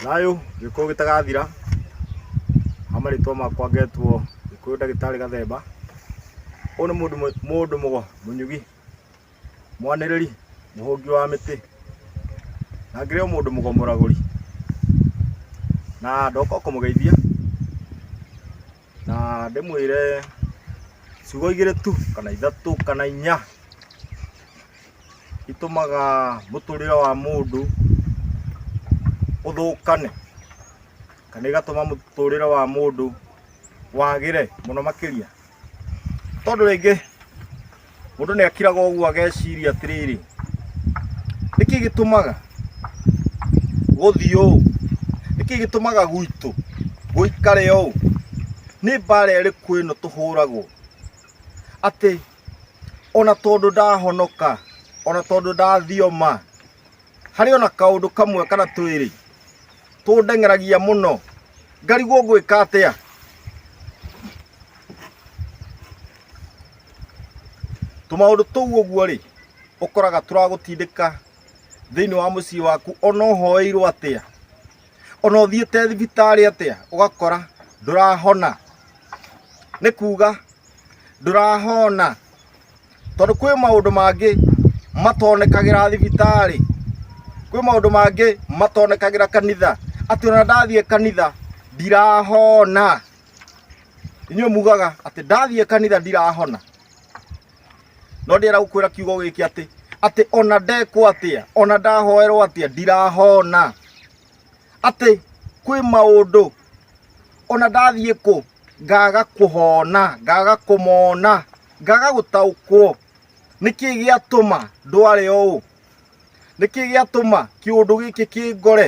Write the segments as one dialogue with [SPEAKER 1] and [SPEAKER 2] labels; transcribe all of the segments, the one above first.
[SPEAKER 1] Thayũ gĩkũyũ gĩtagathira ha marĩtwa makwa ngetwo gĩkũyũ ndagĩtarĩ gathemba ũyũ nĩ mũndũ mũnyugi mwanĩrĩri mũhũngi wa mĩtĩ na ngĩrĩ o mũndũ mũgomoragũri na ndoka kũmũgeithia na ndĩmwĩre ciugo igĩrĩ tu kana ithatũ kana inya itũmaga mũtũrĩre wa mũndũ ũthũkane kana igatũma mũtũrĩre wa mũndũ wagĩre mũno makĩria tondũ rĩngĩ Mũndũ nĩ akiraga ũguo ageciria atĩrĩrĩ, nĩkĩ gĩtũmaga gũthiĩ ũũ? Nĩkĩ gĩtũmaga gwitũ gũikare ũũ? Nĩ mbara ĩrĩkũ ĩno tũhũragwo atĩ ona tondũ ndahonoka, ona tondũ ndathioma, harĩ ona kaũndũ kamwe kana twĩrĩ tũndeng'eragia mũno, ngarigwo ngwĩka atĩa? tũmaũndũ tũu ũguo rĩ ũkoraga tũragũtindĩka thĩinĩ wa mũciĩ waku ona ũhoeirwo atĩa ona ũthiĩte thibitarĩ atĩa ũgakora ndũrahona nĩ kuga ndũrahona tondũ kwĩ maũndũ mangĩ matonekagĩra thibitarĩ kwĩ maũndũ mangĩ matonekagĩra kanitha atĩ ona ndathiĩ kanitha ndirahona inyuĩ mugaga atĩ ndathiĩ kanitha ndirahona no ndĩra gũkwĩra kiugo gĩkĩ atĩ atĩ ona ndekwo atĩa ona ndahoerwo atĩa ndirahona atĩ kwĩ maũndũ ona ndathiĩ kũ ngaga kũhona ngaga kũmona ngaga gũtaũkwo nĩkĩ gĩatũma ndware ũũ nĩkĩ gĩatũma kĩũndũ gĩkĩ kĩngore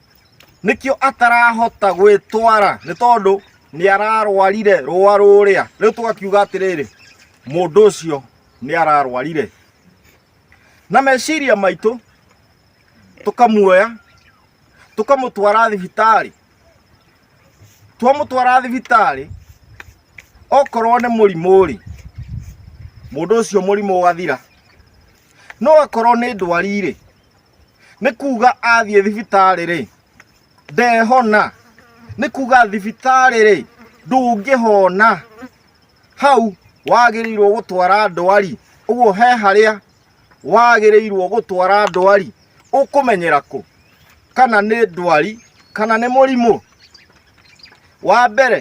[SPEAKER 1] nĩkĩo atarahota gwĩtwara nĩ tondũ nĩ ararwarire rũa rũrĩa rĩu tũgakiuga atĩrĩrĩ mũndũ ũcio nĩ ararwarire na meciria maitũ tũkamuoya tũkamũtwara thibitarĩ twamũtwara thibitarĩ okorwo nĩ mũrimũ rĩ mũndũ ũcio mũrimũ ũgathira no akorwo nĩ ndwari rĩ nĩ kuga athiĩ thibitarĩ rĩ ndehona nĩ kuga thibitarĩ rĩ ndũngĩhona hau wagĩrĩirwo gũtwara ndwari ũguo he harĩa wagĩrĩirwo gũtwara ndwari ũkũmenyera kũ kana nĩ ndwari kana nĩ mũrimũ wa mbere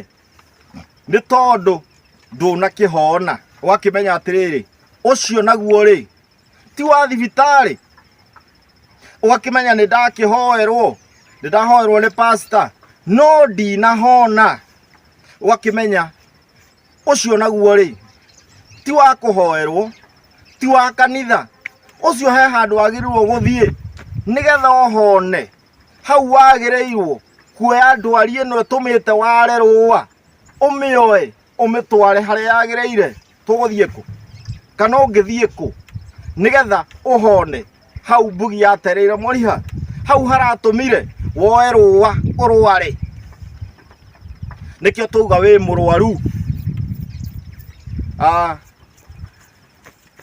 [SPEAKER 1] nĩ tondũ ndũnakĩhona ũgakĩmenya atĩrĩrĩ ũcio naguo rĩ ti wa thibitarĩ ũgakĩmenya nĩ ndakĩhoerwo nĩ ndahoerwo nĩ pasta no ndinahona ũgakĩmenya ũcio naguo rĩ ti wa kũhoerwo ti wa kanitha ũcio he handũ wagĩrĩirwo gũthiĩ nĩgetha ũhone hau wagĩrĩirwo kuoya ndwari ĩno ĩtũmĩte ware rũa ũmĩoe ũmĩtware harĩa yagĩrĩire tũgũthiĩ kũ kana ũngĩthiĩ kũ nĩgetha ũhone hau mbugi yatereire moriha hau haratũmire woe rũa ũrware nĩkĩo twauga wĩ mũrwaru Ah,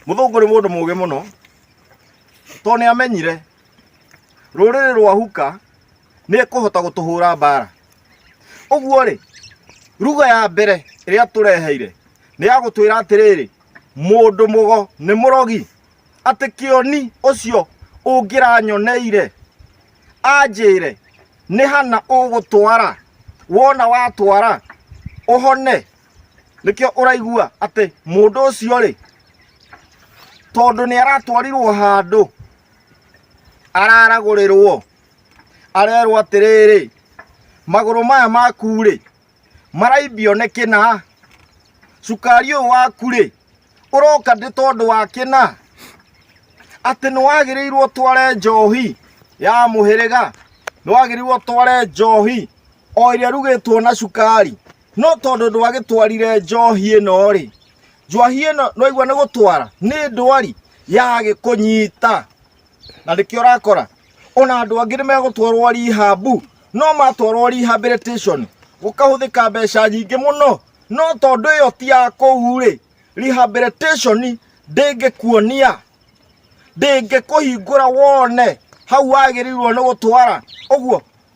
[SPEAKER 1] mũthũngũ nĩ mũndũ mũgĩ mũno tondũ nĩ amenyire rũrĩrĩ rwa huka nĩ kũhota gũtũhũra mbara ũguo rĩ ruga ya mbere ĩrĩa tũreheire nĩ ya gũtwĩra atĩrĩrĩ mũndũ mũgo nĩ mũrogi atĩ kĩoni ũcio ũngĩranyoneire anjĩre nĩ hana ũgũtwara wona watwara ũhone nĩkĩo ũraigua atĩ mũndũ ũcio rĩ tondũ nĩ aratwarirwo handũ araragũrĩrwo arerwo atĩrĩrĩ magũrũ maya maku rĩ maraimbio nĩ kĩna cukari ũyũ waku rĩ ũroka ndĩ tondũ wa kĩna atĩ nĩ wagĩrĩirwo tware njohi ya mũhĩrĩga nĩ wagĩrĩirwo tware njohi o ĩrĩa rugĩtwo na cukari no tondũ ndwagĩtwarire njohi ĩno-rĩ njohi ĩno nwaigua nĩ gũtwara nĩ ndwari yagĩkũnyita na nĩkĩo ũrakora ona andũ angĩ nĩ megũtwarwo rehab no matwarwo rehabilitation gũkahũthĩka mbeca nyingĩ mũno no tondũ ĩyo ti ya kũu-rĩ rehabilitation ndĩngĩkuonia ndĩngĩkũhingũra wone hau wagĩrĩirwo nĩ gũtwara ũguo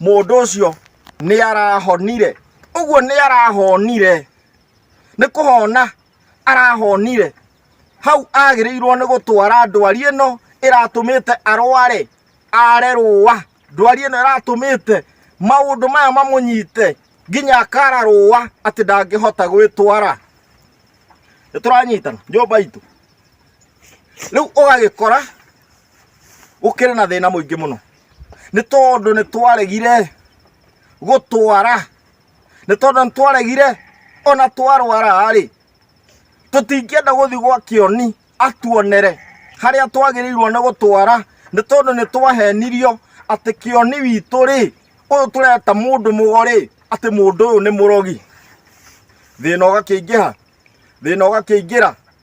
[SPEAKER 1] mũndũ ũcio nĩ arahonire ũguo nĩ arahonire nĩ kũhona arahonire hau agĩrĩirwo nĩ gũtwara ndwari ĩno ĩratũmĩte arware are rũa ndwari ĩno ĩratũmĩte maũndũ maya mamũnyite nginya akara rũa atĩ ndangĩhota gwĩtwara nĩ tũranyitana nyũmba itũ rĩu ũgagĩkora gũkĩrĩ na thĩna mũingĩ mũno nĩ tondũ nĩ twaregire gũtwara nĩ tondũ nĩ twaregire ona twarwara-rĩ tũtingĩenda gũthiĩ gwa kĩoni atuonere harĩa twagĩrĩirwo nĩ gũtwara nĩ tondũ nĩ twahenirio atĩ kĩoni witũ-rĩ ũyũ tũreta mũndũ mũgo-rĩ atĩ mũndũ ũyũ nĩ mũrogi thĩna ũgakĩingĩha thĩna ũgakĩingĩra.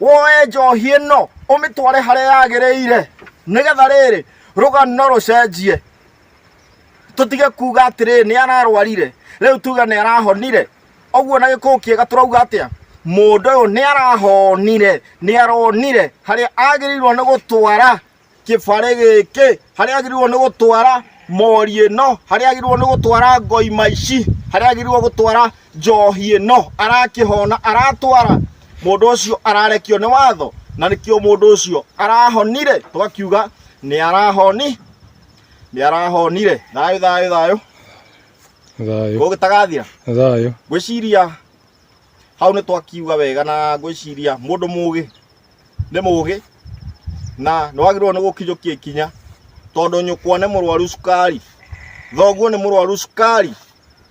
[SPEAKER 1] woe njohi ĩno ũmĩtware harĩa yagĩrĩire nĩgetha rĩrĩ rũgano rũcenjie tũtige kuga atĩrĩrĩ nĩ ararwarire rĩu tuge nĩ arahonire ũguo na gĩkũũ kĩega tũrauga atĩa mũndũ ũyũ nĩ arahonire nĩ aronire harĩa agĩrĩirwo nĩ gũtwara kĩbarĩ gĩkĩ harĩa agĩrĩirwo nĩ gũtwara mori ĩno harĩa agĩrĩirwo nĩ gũtwara ngoima ici harĩa agĩrĩirwo gũtwara njohi ĩno arakĩhona aratwara mũndũ ũcio ararekio nĩ watho na nĩkĩo mũndũ ũcio arahonire twakiuga nĩ arahoni nĩ arahonire thayũ thayũ thayũ thayũ gũgĩtagathira thayũ ngwĩciria hau nĩ twakiuga wega na ngwĩciria mũndũ mũgĩ nĩ mũgĩ na nĩ wagĩrĩirwo nĩ gũkinyũkia ikinya tondũ nyũkwa nĩ mũrwaru cukari thoguo nĩ mũrwaru cukari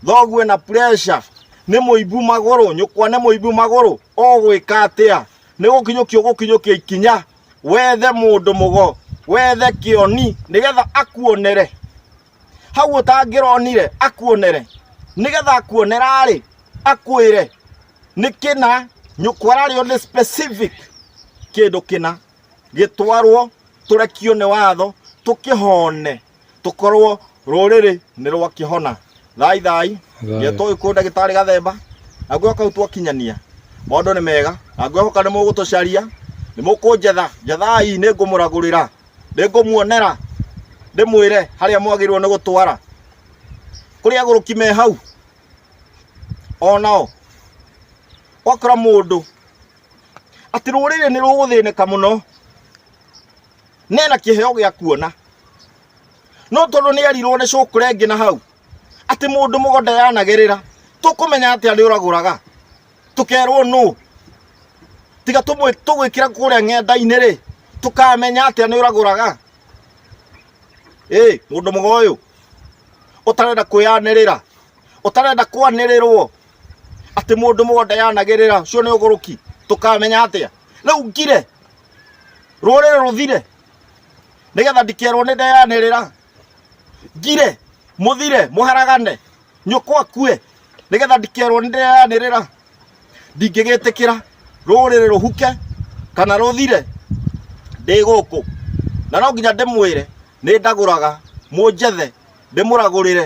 [SPEAKER 1] thoguo ena pressure nĩ mũimbu magũrũ nyũkwa nĩ mũimbu magũrũ ũgwĩka atĩa nĩ gũkinyũkia ũgũkinyũkia ikinya wethe mũndũ mũgo wethe kĩoni nĩgetha akuonere hau ũtangĩronire akuonere nĩgetha akuonera-rĩ akwĩre nĩ kĩna nyũkwa ararĩo nĩ specific kĩndũ kĩna gĩtwarwo tũrekio nĩ watho tũkĩhone tũkorwo rũrĩrĩ nĩ rwakĩhona thai thai Thayũ. ngetwo gĩkũyũ ndagĩtarĩ gathemba na ngwĩhoka kau twakinyania maũndũ nĩ mega na ngwĩhoka nĩ mũgũtũcaria nĩ mũkũnjetha njethai nĩ ngũmũragũrĩra nĩ ngũmuonera ndĩmwĩre harĩa mwagĩrĩirwo nĩ gũtwara kũrĩ agũrũki me hau o nao wakora mũndũ atĩ rũrĩrĩ nĩ rũgũthĩnĩka mũno nena kĩheo gĩa kuona no tondũ nĩ erirwo nĩ cũkũrengĩ na hau atĩ mũndũ mũgũnda yanagerera tũkũmenya atĩ arĩ ũragũraga tũkerwo nũ tiga tũmwĩ- tũgwĩkĩra kũrĩa ng'enda-inĩ rĩ tũkamenya atĩa nĩ ũragũraga ĩ mũndũ mũga ũyũ ũtarenda kwĩyanĩrĩra ũtarenda kwanĩrĩrwo atĩ mũndũ mũga ndayanagĩrĩra ũcio nĩ ũgũrũki tũkamenya atĩa rĩu ngire rũrĩrĩ rũthire nĩgetha ndikerwo nĩ ndeyanĩrĩra ngire mũthire mũharagane nyũkwa kue nĩgetha ndikerwo nĩ ndĩreanĩrĩra ndingĩgĩtĩkĩra rũrĩrĩ rũhuke kana rũthire ndĩ gũkũ na no nginya ndĩmwĩre nĩ ndagũraga mũnjethe ndĩmũragũrĩre